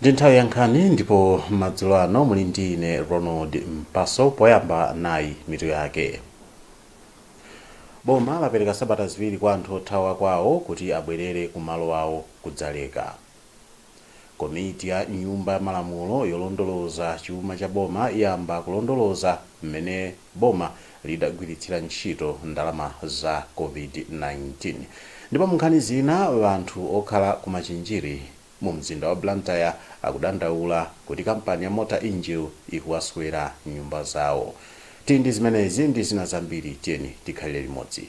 ndi nthawi ya nkhani ndipo madzulo ano muli ndi ine ronald mpaso poyamba nayi mitu yake boma lapereka sabata ziwiri kwa anthu othawa kwawo kuti abwerere ku malo awo kudzaleka Komiti ya Nyumba ya Malamulo yolondoloza chuma cha boma iyamba kulondoloza m'mene boma lidagwiritsira ntchito ndalama za Covid-19. Ndipo munkhani zina, anthu okhala ku Machinjiri mu mzinda wa Blantyre akudandaula kuti kampani ya Mota Engil ikuwaswera nyumba zawo. Tili ndi zimenezi ndi zina zambiri tiyeni tikhalire limodzi.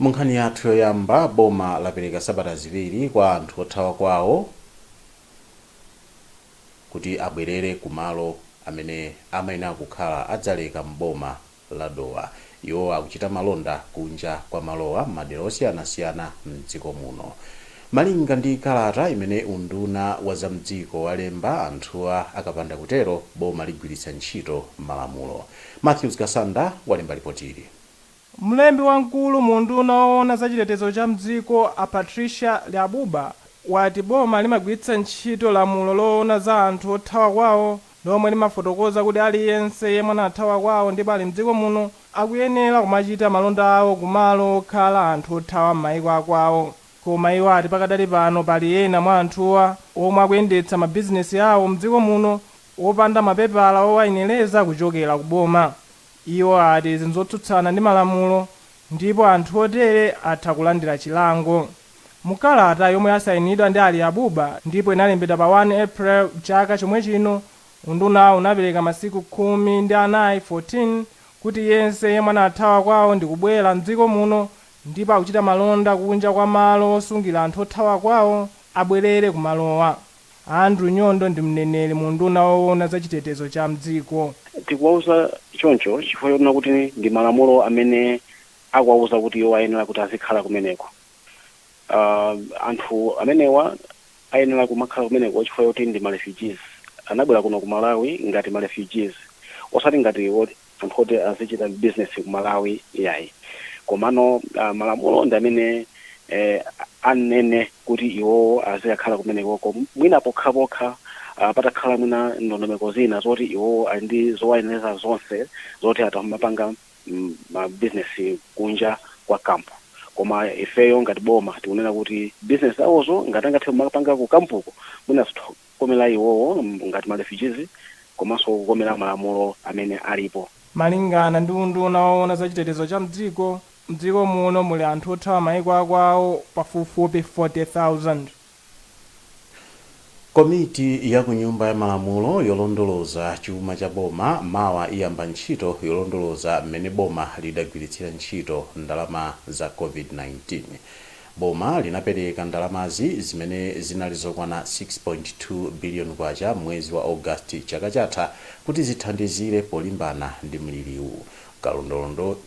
Munkhani yathu yoyamba, boma lapereka sabata ziwiri kwa anthu othawa kwawo kuti abwerere ku malo amene amayenera kukhala a Dzaleka m'boma la Dowa. Iwo akuchita malonda kunja kwa malowa m'madera osiyanasiyana m'dziko muno. Malinga ndi kalata imene unduna wa za m'dziko walemba, anthuwa akapanda kutero, boma ligwiritsa ntchito malamulo. Mathews Kasanda walemba lipotili. Mlembi wamkulu mu unduna owona za chitetezo cha mdziko a Patricia Liabuba wati boma limagwiritsa ntchito lamulo loona za anthu othawa kwawo lomwe limafotokoza kuti aliyense yemwe anathawa kwawo ndipo ali mdziko muno akuyenera kumachita malonda awo ku malo okhala anthu othawa mmaiko akwawo koma iwo ati pakadali pano pali ena mwa anthuwa omwe akuyendetsa mabizinesi awo mdziko muno opanda mapepala owayenereza kuchokera ku boma. Iwo ati izi nzotsutsana ndi malamulo ndipo anthu otere atha kulandira chilango. Mu kalata yomwe yasayinidwa ndi a Liabuba ndipo inalembedwa pa 1 April chaka chomwechino, undunawu unapereka masiku khumi ndi anayi kuti yense yemwe anathawa kwawo ndikubwera m'dziko muno ndipo akuchita malonda kunja kwa malo osungira anthu othawa kwawo abwerere kumalowa. Andrew Nyondo ndi mneneri mu unduna owona za chitetezo cha mdziko. Tikuwauza choncho chifukwa chonena kuti ndi malamulo amene akuwauza kuti iwo ayenera kuti azikhala kumeneko. Aaa anthu amenewa ayenera kumakhala kumeneko chifukwa choti ndi ma refugees. Anabwera kuno ku Malawi ngati ma refugees osati ngati woti. anthu oti azichita business ku Malawi iyayi komano uh, malamulo ndi amene eh, anene kuti iwowo azikakhala kumenekoko mwina pokhapokha uh, patakhala mwina ndondomeko zina zoti iwowo ali ndi zowayenereza zonse zoti atamapanga mm, ma business kunja kwa kampu koma ifeyo ngati boma tikunena kuti business zawozo ngati angathe kumapanga ku kampuko mwina zitho- kukomera iwowo ngati ma refugees komanso kukomera malamulo amene alipo. Malingana ndi unduna woona za chitetezo cha mdziko, mdziko muno muli anthu othawa maiko a kwawo pafupifupi 40,000. Komiti ya ku Nyumba ya Malamulo yolondoloza chuma cha boma mawa iyamba ntchito yolondoloza mmene boma lidagwiritsira ntchito ndalama za Covid-19. Boma linapereka ndalamazi, zimene zinali zokwana K6.2 biliyoni m'mwezi wa August chaka chatha kuti zithandizire polimbana ndi mliriwu.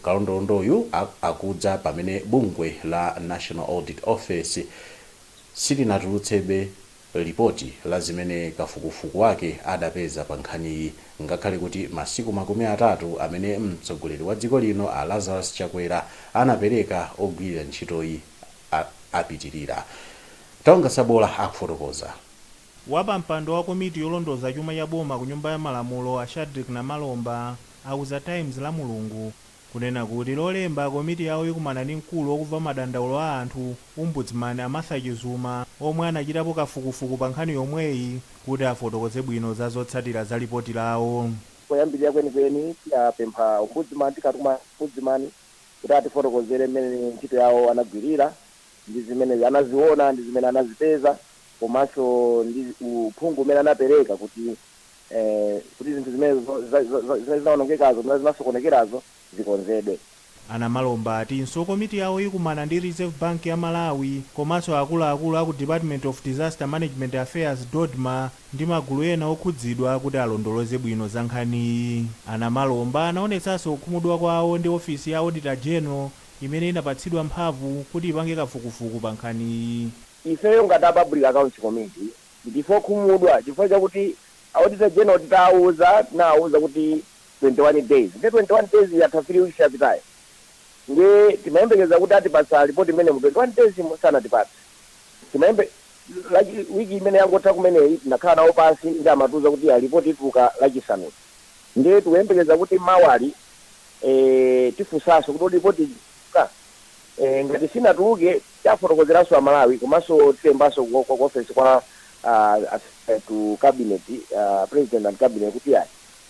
Kalondolondoyu akudza pamene bungwe la National Audit Office silinatulutsebe lipoti la zimene kafukufuku wake adapeza pa nkhaniyi ngakhale kuti masiku makumi atatu amene mtsogoleri wa dziko lino a Lazarus Chakwera anapereka ogwirira ntchitoyi apitirira. Taonga Sabola akufotokoza. Wapampando wa komiti yolondoza chuma cha boma ku Nyumba ya Malamulo a Shadreck Namalomba auza Times Lamulungu kunena kuti Lolemba komiti yawo ikumana ndi mkulu wokumva madandaulo a anthu, Ombudsman, a Martha Chizuma, omwe anachitapo kafukufuku pa nkhani yomweyi, kuti afotokoze bwino za zotsatira za lipoti lawo. Poyambirira kwenikweni, tiyapempha Ombudsman, tikatuma Ombudsman, kuti atifotokozere mmene ntchito yawo anagwirira, ndi zimene anaziona ndi zimene anazipeza, komanso ndi uphungu umene anapereka kuti zinthu zimene zinaonongekazo zimene zinasokonekerazo zikonzedwe. A Namalomba atinso komiti yawo ikumana ndi Reserve Bank ya Malawi komanso akuluakulu aku Department of Disaster Management Affairs, Dodma, ndi magulu ena okhudzidwa kuti alondoloze bwino za nkhaniyi. A Namalomba anaonetsanso kukhumudwa kwawo ndi ofesi ya Auditor General imene inapatsidwa mphamvu kuti ipange kafukufuku pa nkhaniyi. Ifeyo ngati a Public Accounts Committee Ndife okhumudwa chifukwa chakuti Auditor General tinawauza kuti 21 days ndiye 21 days yatha 3 weeks yapitayo ndiye timayembekeza kuti atipatsa report imeneyi mu 21 days mo sanatipatse week imene yangotha kumeneyi tinakhala nawo pansi ndiye amatiuza kuti ya report ituluka Lachisanu ndiye tikuyembekeza kuti mawali eeh tifunsanso kuti kodi report ituluka eeh ngati sinatuluke Tiwafotokozeranso a Malawi komanso tilembanso ku ku ofesi kwa a secretary to cabinet, a president and cabinet kuti iyayi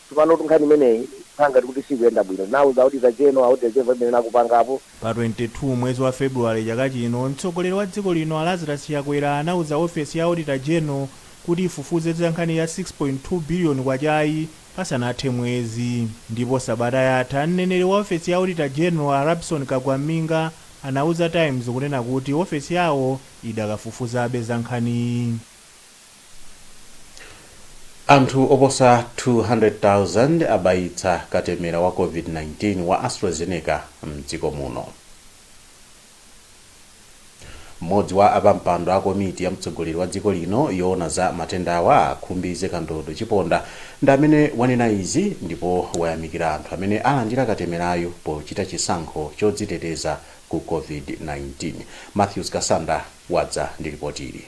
tsopanotu nkhani imeneyi ikukhala ngati kuti siikuyenda bwino. Tinauza auditor general, auditor general palibe chimene akupangapo. Pa 22 mwezi wa February chaka chino, mtsogoleri wa dziko lino a Lazarus Chakwera anauza ofesi ya auditor general kuti ifufuze za nkhani ya K6.2 biliyoni-yi pasanathe mwezi. Ndipo sabata yatha, mneneri wa ofesi ya auditor general a Rabson Kagwam'minga, anauza Times kunena kuti ofesi yawo idakafufuzabe za nkhaniyi. Anthu oposa 200,000 abayitsa katemera wa Covid-19 wa AstraZeneca m'dziko muno. M'modzi wa apampando a komiti ya mtsogoleri wa dziko lino yoona za matendawa a Khumbize Kandodo Chiponda Ndi amene wanena izi ndipo wayamikira anthu amene alandira katemerayu pochita chisankho chodziteteza ku Covid-19. Mathews Kasanda wadza ndi lipoti ili.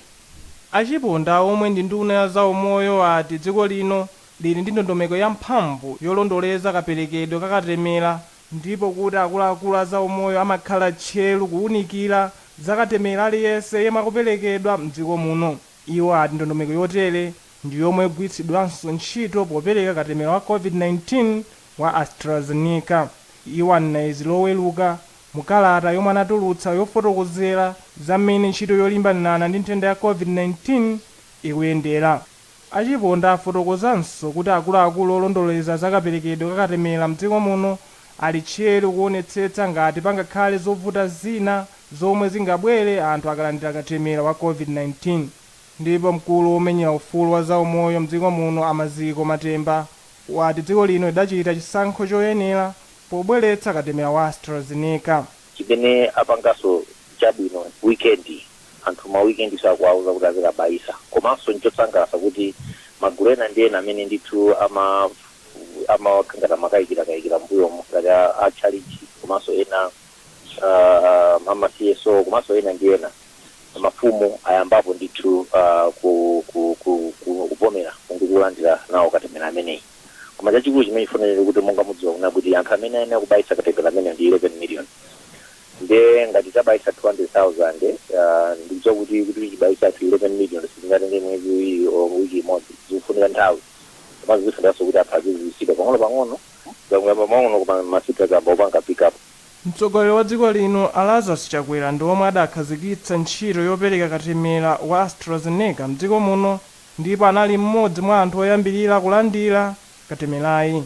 A Chiponda omwe ndi nduna ya za umoyo ati dziko lino lili ndi ndondomeko ya mphamvu yolondoleza kaperekedwe ka katemera, ndipo kuti akuluakulu a za umoyo amakhala tcheru kuunikira za katemera aliyense yemwe akuperekedwa m'dziko muno. Iwo ati ndondomeko yotere ndi yomwe ikugwiritsidwanso ntchito popereka katemera wa Covid-19 wa AstraZeneca. Iwo anena izi loweruka mu kalata yomwe anatulutsa yofotokozera za mmene ntchito yolimbana ndi nthenda ya Covid-19 ikuyendera. A Chiponda afotokozanso kuti akuluakulu olondoleza za kaperekedwe ka katemera mdziko muno ali tcheru kuonetsetsa ngati pangakhale zovuta zina zomwe zingabwere anthu akalandira katemera wa Covid-19. Ndipo mkulu womenyera ufulu wa zaumoyo m'dziko muno a Maziko Matemba wati dziko lino lidachita chisankho choyenera pobweretsa katemera wa AstraZeneca. Chimene apangaso chabwino weekend anthu ma weekend so akuwauza kuti azikabayisa komanso nchosangalatsa kuti magulu ena ndi ena amene ndithu ama amakhala ngati amakayikira kayikira mmbuyomu ngati a tchalitchi komanso ena uh, ama CSO komanso ena ndi ena mafumu ayambapo ndithu uh, ku, ku, ku, ku, kuvomera ndi kulandira nawo katemera ameneyi koma chachikulu chimene chifunikira kuti monga mudziwa kuna kuti anthu amene ayenera kubayitsa katemera amene ndi 11 million nde ngati tabayitsa 200,000 uh, ndikudziwa kuti kuti tibayitsa anthu 11 million sitingatenge mwezi iwiri or wiki imodzi zikufunika nthawi komanso zifunanso kuti anthu aziziwisidwa pang'ono pang'ono Zakuyamba pang'ono koma ma figures ayamba kupanga pick up. Mtsogoleri wa dziko lino a Lazarus Chakwera ndi omwe adakhazikitsa ntchito yopereka katemera wa AstraZeneca m'dziko muno ndipo anali m'modzi mwa anthu oyambirira kulandira katemerayi.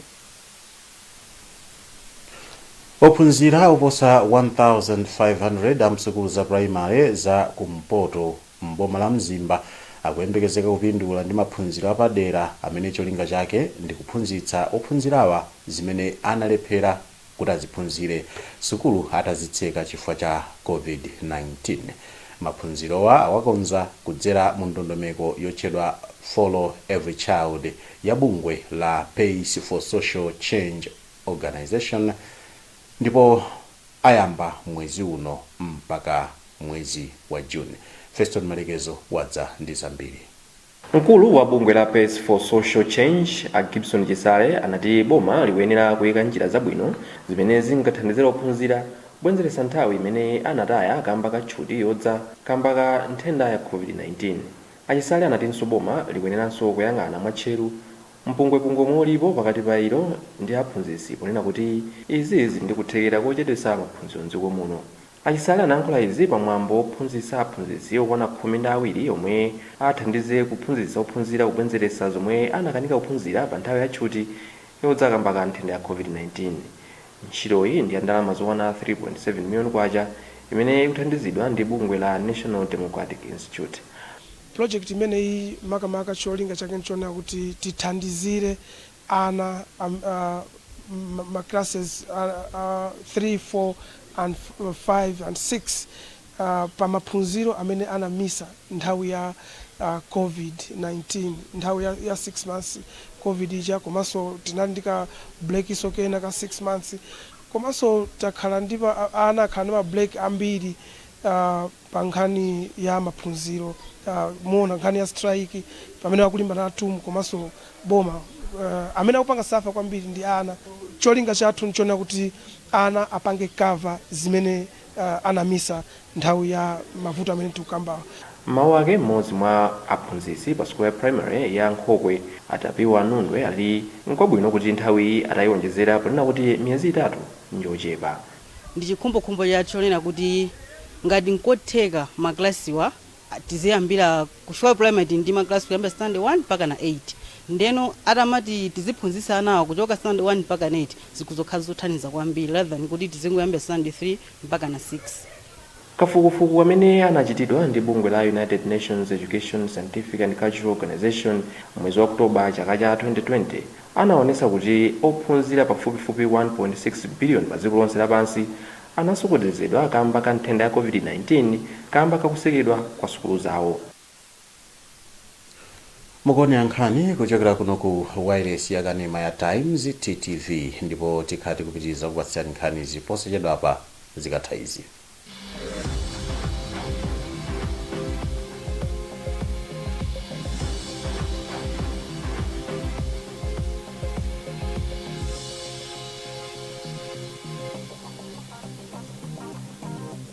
Ophunzira oposa 1,500 a msukulu za pulayimale za ku mpoto m'boma la Mzimba akuyembekezeka kupindula ndi maphunziro apadera amene cholinga chake ndi kuphunzitsa ophunzirawa zimene analephera kuti aziphunzire sukulu atazitseka chifukwa cha Covid-19. Maphunzirowa awakonza kudzera mu ndondomeko yotchedwa Follow Every Child ya bungwe la Pace for Social Change Organization, ndipo ayamba mwezi uno mpaka mwezi wa June. Feston Malekezo wadza ndi zambiri. Mkulu wa bungwe la Pace for Social Change, a Gibson Chisale, anati boma likuyenera kuyika njira zabwino zimene zingathandizire ophunzira kubwenzeretsa nthawi imene anataya kamba ka tchuti yodza kamba ka nthenda ya Covid-19. A Chisale anatinso boma likuyeneranso kuyang'ana mwatcheru. Mpungwepungwe omwe ulipo pakati pa ilo ndi aphunzitsi ponena kuti izi zili ndi kuthekera kochedwetsa maphunziro m'dziko muno. A Chisale anayankhula izi pa mwambo wophunzitsa aphunzitsi okwana khumi ndi awiri omwe athandize kuphunzitsa ophunzira kubwenzeretsa zomwe anakanika kuphunzira pa nthawi ya tchuti yodza kamba ka nthenda ya Covid-19. Ntchitoyi ndi ya ndalama zokwana 3.7 million kwacha imene ikuthandizidwa ndi bungwe la National Democratic Institute. Pulojekiti imeneyi makamaka cholinga chake n'chonena kuti tithandizire ana ma classes a 3, 4 and 5 and 6 pa maphunziro amene anamisa nthawi ya Covid-19, nthawi ya 6 months Covid ija komanso tinali ndi ka break so kena ka 6 months komanso takhala ndi ana akhala ndi ma break ambiri. pa nkhani ya maphunziro muona nkhani ya strike pamene akulimbana a TUM komanso boma amene akupanga safa kwambiri ndi ana cholinga chathu nchonena kuti ana apange cover zimene anamisa nthawi ya mavuto amene tikukambawa. M'mawu ake m'modzi mwa aphunzitsi pa sukulu ya primary ya Nkhokwe a Tapiwa Nundwe ali nkwabwino kuti nthawiyi atayionjezera ponena kuti miyezi itatu njochepa Ndi chikhumbokhumbo chathu chonena kuti ngati nkotheka ma class wa tiziyambira ku chifukwa primary tili ndi ma class kuyambira standard 1 mpakana 8 ndeno atamati tiziphunzitsa anawa kuchoka standard 1 mpakana 8 zikhoza kukhala zothandiza kwambiri rather than kuti tizingoyambira standard 3 mpakana 6. Kafukufuku amene anachitidwa ndi bungwe la United Nations Education, Scientific and Cultural Organization m'mwezi wa October chaka cha 2020 anaonesa kuti ophunzira pafupifupi 1.6 billion padziko lonse lapansi anasokonezedwa kamba ka nthenda ya COVID-19 kamba kakusekedwa kwa sukulu zawo. mukuonera nkhani kuchokera kuno ku wailesi yakanema ya times ttv ndipo tikhala tikupitiriza kupatsirani nkhanizi posachedwapa zikatha izi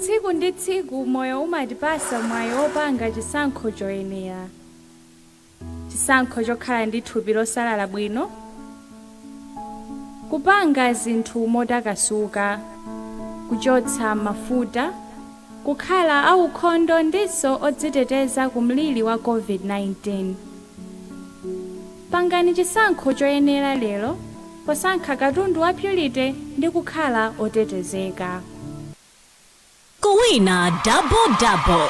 Tsiku ndi tsiku moyo umatipasa mwayi opanga chisankho choyenera, chisankho chokhala ndi thupi losalala bwino, kupanga zinthu motakasuka, kuchotsa mafuta, kukhala aukhondo ndinso odziteteza ku mliri wa COVID-19. Pangani chisankho choyenera lero posankha katundu wa Purity ndi kukhala otetezeka. Kuwina Double Double!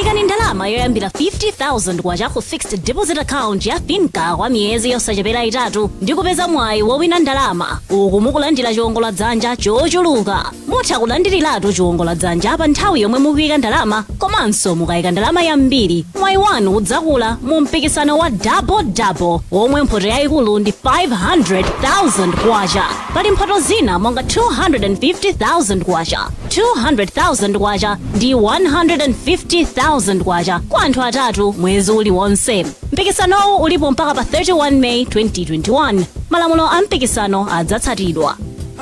Ikani ndalama yoyambira 50,000 kwacha ku Fixed Deposit Account ya FINCA kwa miyezi yosachepera itatu ndi kupeza mwayi wowina ndalama uku mukulandira chiwongoladzanja chochuluka. Mutha kulandiriratu chiwongola dzanja pa nthawi yomwe mukuika ndalama komanso mukaika ndalama yambiri mwayi wanu udzakula mu mpikisano wa double double womwe mphoto yayikulu ndi 500,000 kwacha. Pali mphoto zina monga 250,000 kwacha, 200,000 kwacha ndi 150,000 kwacha kwa anthu atatu mwezi uliwonse. Mpikisanowu ulipo mpaka pa 31 May 2021. Malamulo a mpikisano adzatsatidwa.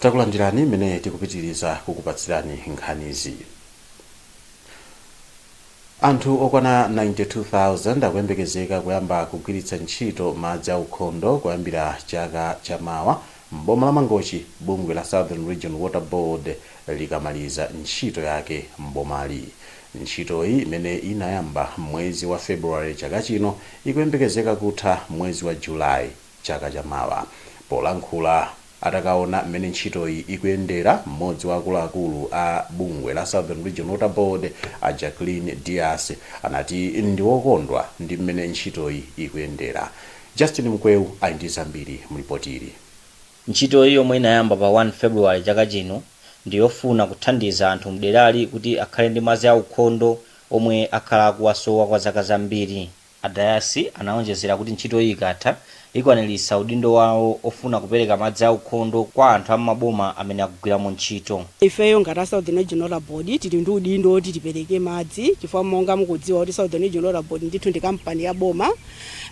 takulandirani imene tikupitiriza kukupatsirani nkhanizi anthu okwana 92,000 akuyembekezeka kuyamba kugwiritsa ntchito madzi aukhondo kuyambira chaka chamawa m'boma la mangochi bungwe la southern region water board likamaliza ntchito yake m'bomali ntchitoyi imene inayamba mwezi wa february chaka chino ikuyembekezeka kutha mwezi wa july chaka cha mawa. Polankhula atakaona mmene ntchitoyi ikuyendera, mmodzi wa akuluakulu a bungwe la Southern Region Water Board a Jacqueline Dias anati ndi okondwa ndi mmene ntchitoyi ikuyendera. Justin Mkweu ali ndi zambiri mu lipoti ili. Ntchitoyi yomwe inayamba pa 1 February chaka chino ndi yofuna kuthandiza anthu mderali kuti akhale ndi madzi aukhondo omwe akhala akuwasowa kwa zaka zambiri. A Dias anaonjezera kuti ntchitoyi ikatha, ikwaniritsa udindo wawo ofuna kupereka madzi aukhondo kwa anthu a m'maboma amene akugwiramo ntchito. Ifeyo ngati Southern Region Water Board tili ndi udindo oti tipereke madzi chifukwa monga mukudziwa kuti Southern Region Water Board ndithu ndi kampani ya boma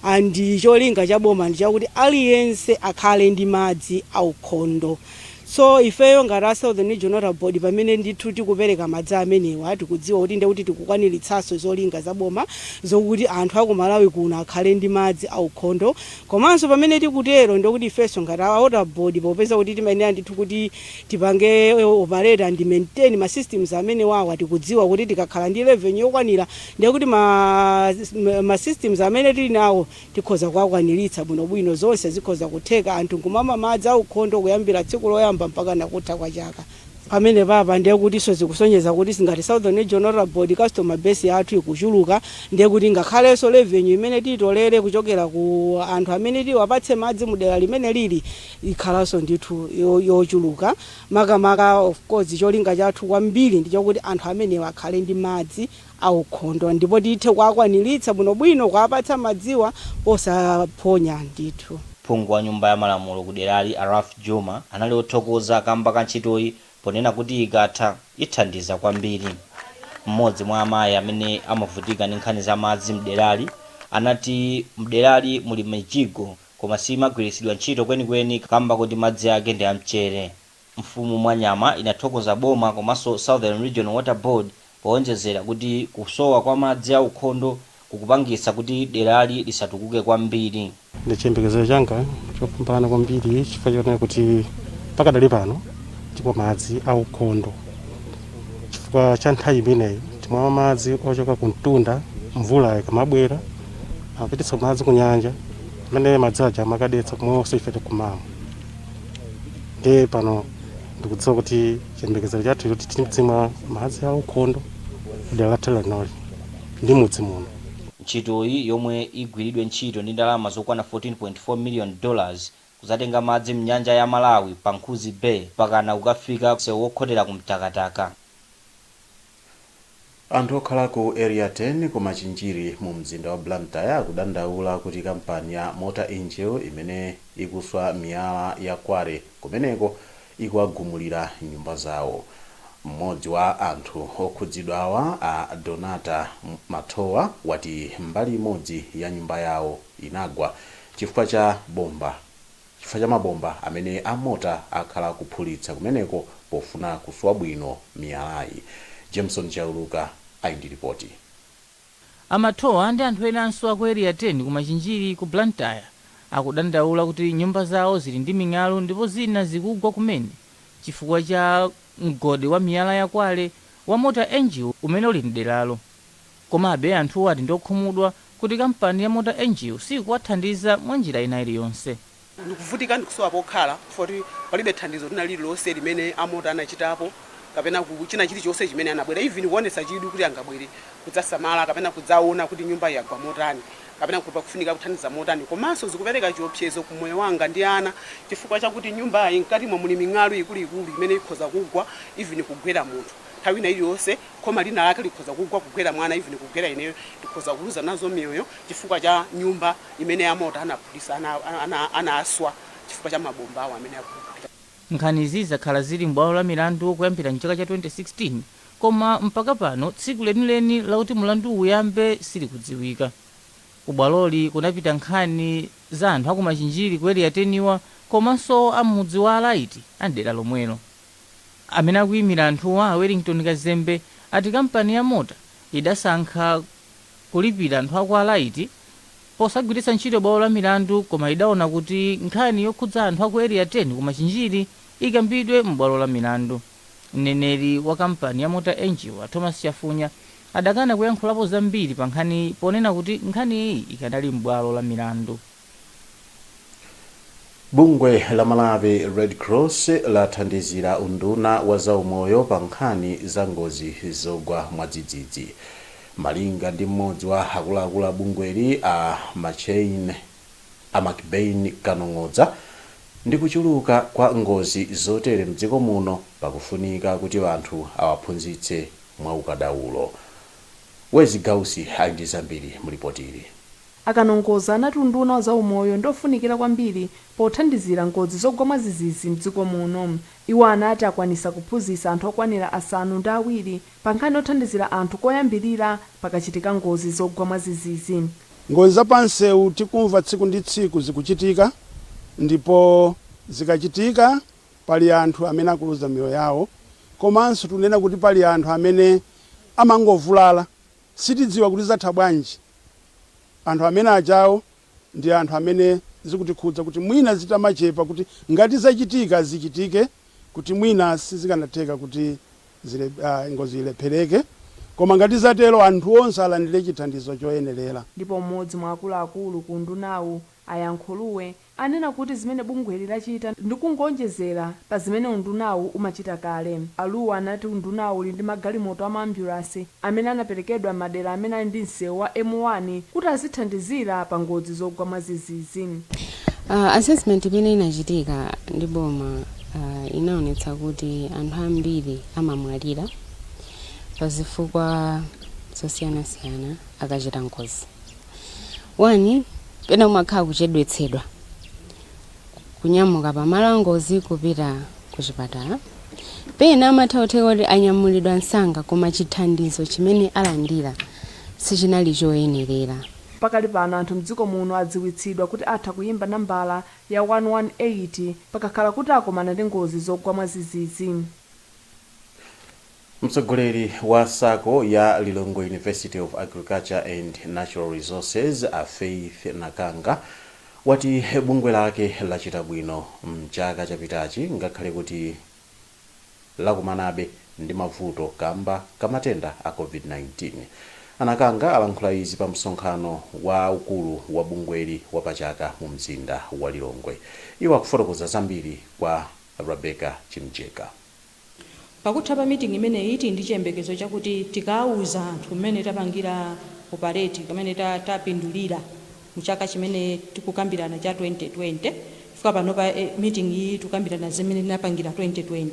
and cholinga cha boma ndi chakuti aliyense akhale ndi madzi aukhondo. So ifeyo ngati a Southern Region Water Board pamene ndithu tikupereka madzi amenewa tikudziwa kuti ndiye kuti tikukwaniritsanso zolinga za boma zokuti anthu a ku Malawi kuno akhale ndi madzi aukhondo. Komanso pamene tikutero ndiye kuti ifenso ngati a Water Board popeza kuti timayenera ndithu kuti tipange operate and maintain ma systems amenewawa tikudziwa kuti tikakhala ndi revenue yokwanira ndiye kuti ma, ma systems amene tili nawo Tikhoza kuwakwaniritsa bwinobwino. Zonse zikhoza kutheka anthu nkumamwa madzi aukhondo kuyambira tsiku loyamba mpakana kutha kwa chaka. Pamenepapa ndiye kutinso zikusonyeza kuti ifenso ngati Southern Region Water Board customer base yathu ikuchuluka, ndiye kuti ngakhalenso revenue imene titolere kuchokera ku anthu amene tiwapatse madzi mu dera limenelili ikhalanso ndithu yochuluka. Makamaka of course cholinga chathu kwambiri ndichokuti anthu amenewa akhale ndi madzi. aukhondo ndipo tithe kuwakwaniritsa bwinobwino kuwapatsa madziwa posaphonya ndithu. Phungu wa nyumba ya malamulo kuderali a Ralph Jooma anali othokoza kamba ka ntchitoyi ponena kuti ikatha ithandiza kwambiri. M'modzi mwa amayi amene amavutika ndi nkhani za madzi mderali anati mderali muli mijigo koma siimagwiritsidwa ntchito kwenikweni kamba kuti madzi ake ndi amchere. Mfumu Mwanyama inathokoza boma komanso Southern Region Water Board powonjezera kuti kusowa kwa madzi aukhondo kukupangitsa kuti derali lisatukuke kwambiri. Ndi chiyembekezero changa chopambana kwambiri chifukwa chonena kuti pakadali pano timwa madzi aukhondo chifukwa cha nthawi imeneyi timamwa madzi ochoka ku mtunda mvula ikamabwera amapititsa madzi ku nyanja amene madzi aja amakadetsa kumenenso ife tikumamwa. ndiye pano ndikudziwa kuti chiyembekezero chathu choti tidzimwa madzi aukhondo kudera lathu linoli ndi mudzi muno Ntchitoyi yomwe igwiridwe ntchito ndi ndalama zokwana 14.4 million dollars idzatenga madzi mnyanja ya Malawi pa Nkhuzi Bay pakana kukafika msewu wokhotera ku Mtakataka. Anthu okhala ku Area 10 ku Machinjiri mu mzinda wa Blantyre akudandaula kuti kampani ya Mota-Engil imene ikuswa miyala ya quarry kumeneko ikuwagumulira nyumba zawo. M'modzi wa anthu okhudzidwawa a Donata Mathowa wati mbali imodzi ya nyumba yawo inagwa chifukwa cha bomba. chifukwa cha mabomba amene a Mota akhala akuphulitsa kumeneko pofuna kuswa bwino miyalayi. Jameson Chauluka ali ndi lipoti. A Mathowa ndi anthu enanso a ku Area 10 ku Machinjiri ku Blantyre akudandaula kuti nyumba zawo zili ndi ming'alu ndipo zina zikugwa kumene chifukwa cha mgodi wa miyala ya quarry wa Mota-Engil umene uli m'deralo. Komabe, anthuwo ati ndi okhumudwa kuti kampani ya Mota Engil siikuwathandiza mwa njira ina iliyonse. Ndikuvutika ndikusowa pokhala chifukwa choti palibe thandizo lina lililonse limene a Mota anachitapo kapena ku china chilichonse chimene anabwera even kuonetsa chidwi kuti angabwere kudzasamala kapena kudzaona kuti nyumbayi yagwa motani kapena kuti pakufunika kuthandiza motani komanso zikupereka chiopsezo ku moyo wanga ndi ana chifukwa chakuti nyumbayi mkatimo muli ming'alu ikuluikulu imene ikhoza kugwa even kugwera munthu nthawi ina iliyonse. khoma lina lake likhoza kugwa kugwera mwana even kugwera ineyo tikhoza kuluza nazo miyoyo chifukwa cha nyumba imene a Mota anaphulitsa, anaswa chifukwa cha mabomba awo amene akuphulika. Nkhani izi zakhala zili m'bwalo la milandu kuyambira m'chaka cha 2016 koma mpaka pano tsiku lenileni lakuti mlanduwu uyambe silikudziwika. Ku bwaloli kunapita nkhani za anthu a ku Machinjiri ku Area 10-wa komanso a m'mudzi wa Alaiti a m'dera lomwelo. Amene akuyimira anthuwa, a Wellington Kazembe, ati kampani ya Mota idasankha kulipira anthu a kwa Alaiti posagwiritsa ntchito bwalo la milandu koma idaona kuti nkhani yokhudza anthu a ku Area 10 ku Machinjiri ikambidwe m'bwalo la milandu. Mneneri wa kampani ya Mota Engil, a Thomas Chafunya, adakana kuyankhulapo zambiri pankhaniyi ponena kuti nkhani iyi ikanali m'bwalo la milandu. Bungwe la Malawi Red Cross lathandizira unduna wa zaumoyo pa nkhani za ngozi zogwa mwadzidzidzi. Malinga ndi mmodzi wa akuluakulu a bungweli a MacBain Kanong'odza, ndi kuchuluka kwa ngozi zotere mdziko muno pakufunika kuti anthu awaphunzitse mwaukadaulo. Wezi Gausi ali ndi zambiri mu lipotili. A Kanong'odza anati unduna wa za umoyo ndi ofunikira kwambiri pothandizira ngozi zogwa mwadzidzidzi mdziko muno. Iwo anati akwanitsa kuphunzitsa anthu okwanira asanu ndi awiri pa nkhani yothandizira anthu koyambirira pakachitika ngozi zogwa mwadzidzidzi. Ngozi za pa nsewu tikumva tsiku ndi tsiku zikuchitika ndipo zikachitika pali anthu amene akuluza miyoyo yawo komanso tikunena kuti pali anthu amene amangovulala sitidziwa kuti zatha bwanji. Anthu amene ajawo ndi anthu amene zikutikhudza kuti mwina zitamachepa kuti ngati zachitika zichitike kuti mwina sizikanatheka kuti ngozi ilephereke koma ngati zatero anthu onse alandire chithandizo choyenerera. Ndipo m'modzi mwa akuluakulu ku undunawu a Yankhulue anena kuti zimene bungweli lachita ndi kungoonjezera pa zimene undunawu umachita kale. A Luo anati undunawu uli ndi magalimoto a maambyulansi amene anaperekedwa m'madera amene ali ndi msewu wa M1 kuti azithandizira pa ngozi zogwa mwadzidzidzi. Assessment imene inachitika ndi boma inaonetsa kuti anthu ambiri amamwalira pazifukwa zosiyanasiyana akachita ngozi. 1 pena kumakhala kuchedwetsedwa kunyamuka pamalo angozi kupita ku chipatala. Pena amatha kutheka kuti anyamulidwa msanga koma chithandizo chimene alandira sichinali choyenerera. Pakali pano anthu mdziko muno adziwitsidwa kuti atha kuyimba nambala ya 118 pakakhala kuti akomana ndi ngozi zogwa mwadzidzidzi. Mtsogoleri wa sacco ya Lilongwe University of Agriculture and Natural Resources, a Faith Nakanga, wati bungwe lake lachita bwino m'chaka chapitachi ngakhale kuti lakumanabe ndi mavuto kamba ka matenda a Covid-19. A Nakanga alankhula izi pa msonkhano wa ukulu wa bungweli wa pa chaka mu mzinda wa Lilongwe. Iwo akufotokoza zambiri kwa Rebecca Chimjeka. Pakutha pa meeting imeneyi tili ndi chiyembekezo chakuti tikauza anthu mmene tapangira operate kammene tapindulira mu chaka chimene tikukambirana cha 2020 chifukwa panopa meeting iyi tikukambirana zimene tinapangira 2020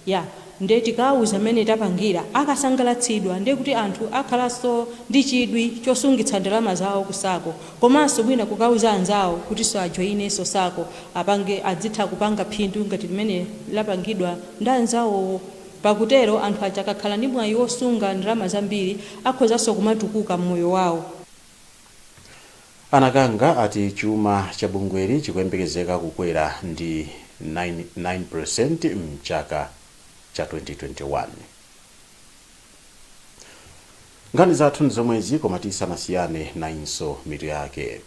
yeah nde tikauza mmene tapangira akasangalatsidwa ndekuti anthu akhalanso ndi chidwi chosungitsa ndalama zawo ku sacco Komanso mwina kukauza anzawo kutinso ajoinenso sacco apange adzitha kupanga phindu ngati limene lapangidwa ndi anzawowo. Pakutero anthu aja akakhala ndi mwayi wosunga ndalama zambiri akhozanso kumatukuka m'moyo wawo. A Nakanga ati chuma cha bungweli chikuyembekezeka kukwera ndi 9% m'chaka cha 2021. Nkhani zathu ndi zomwezi koma tisanasiyane nayinso mitu yake.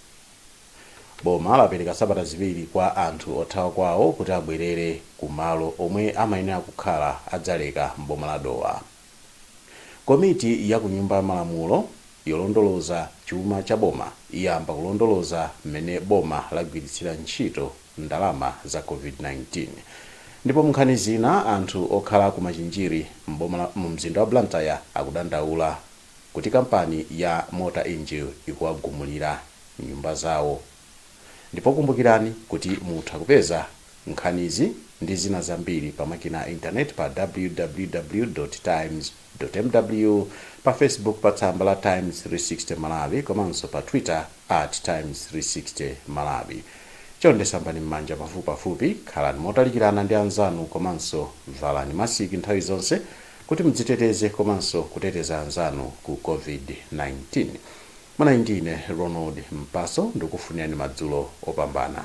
Boma lapereka sabata ziwiri kwa anthu othawa kwawo kuti abwerere ku malo omwe amayenera kukhala a Dzaleka m'boma la Dowa. Komiti ya ku Nyumba ya Malamulo yolondoloza chuma cha boma iyamba kulondoloza m'mene boma lagwiritsira ntchito ndalama za covid 19. Ndipo munkhani zina anthu okhala ku Machinjiri m'boma la mu mzinda wa Blantyre akudandaula kuti kampani ya Mota Engil ikuwagumulira nyumba zawo ndipo kumbukirani kuti mutha kupeza nkhanizi ndi zina zambiri pa makina a intaneti pa www.times. mw pa Facebook pa tsamba la Times 360 Malawi komanso pa Twitter at Times 360 Malawi. Chonde sambani m'manja pafupipafupi, khalani motalikirana ndi anzanu komanso valani masiki nthawi zonse kuti mudziteteze komanso kuteteza anzanu ku COVID-19. Munali ndi ine Ronald Mpaso ndikukufunirani madzulo opambana.